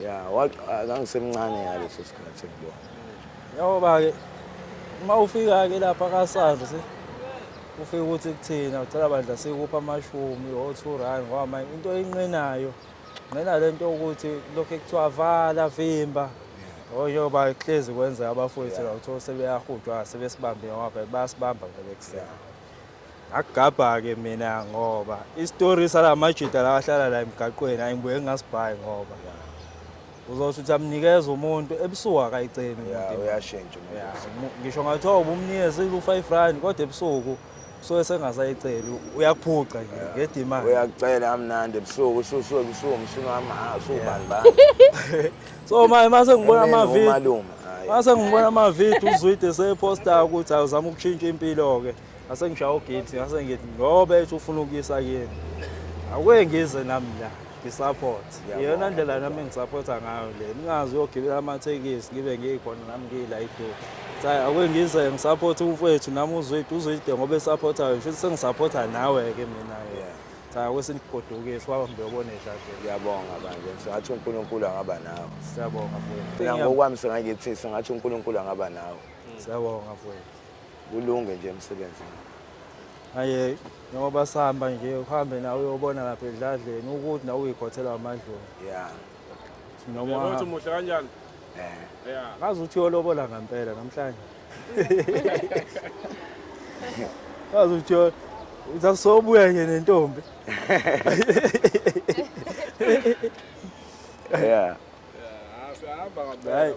ya kangisemncane ngaleso sikhathi ngibona yawoba-ke uma ufika-ke lapha kasars ufike ukuthi kuthina ucela bandla sikupha amashumi o-two rand ngoba manje into eyinqenayo nqena le nto yokuthi lokhu ekuthiwa vala vimba oyoba kuhlezi kwenzeka abafowethu la kuthiwa sebeyahudwa sebesibambe ngoba bayasibamba vele kusena Akugabha-ke mina ngoba isitori salamajita lawa ahlala la emgaqweni ayi ngibuye ngingasibhayi ngoba uzothi uthi amnikeza umuntu ebusuku akayiceli umuntu uyashintsha ngisho ngathiwa ubumnikeza ilu-five rand kodwa ebusuku usuke sengasayiceli uyakuphuca nje ngedimani uyakucela amnandi ebusuku ususuke ebusuku umsunu wami ha usubani bani so manje mase ngibona amavidiyo mase ngibona amavidiyo uzwide seposta ukuthi awuzama ukutshintsha impilo-ke ngase ngishaya ugate ngase ngithi ngoba ethi ufuna ukuyisa kini akuke ngize nami la ngisupport iyona ndlela nami engisupporta ngayo le ningazi uyogibela amathekisi ngibe ngikhona nami ngiyila iduku sayi akuke ngize ngisupport umfowethu nami uzwide uzwide ngoba esupportayo ngisho sengisupporta nawe-ke mina sayi akuke sinigodukise waba mbe obone dlanje ngiyabonga manje singathi unkulunkulu angaba nawe siyabonga mfowethu ngokwami singakithi singathi unkulunkulu angaba nawe siyabonga mfowethu kulunge nje emsebenzini aye njengoba sihamba nje uhambe nawe uyobona lapha edladleni ukuthi nawe uyikhothela amadloni ya noma Ukuthi muhle kanjani? eh Yeah. ngazi ukuthi uyolobola ngampela namhlanje ngazi ukuthi uyo- uthi asobuya nje nentombi ya Yeah, siyahamba Right. ngampela manje.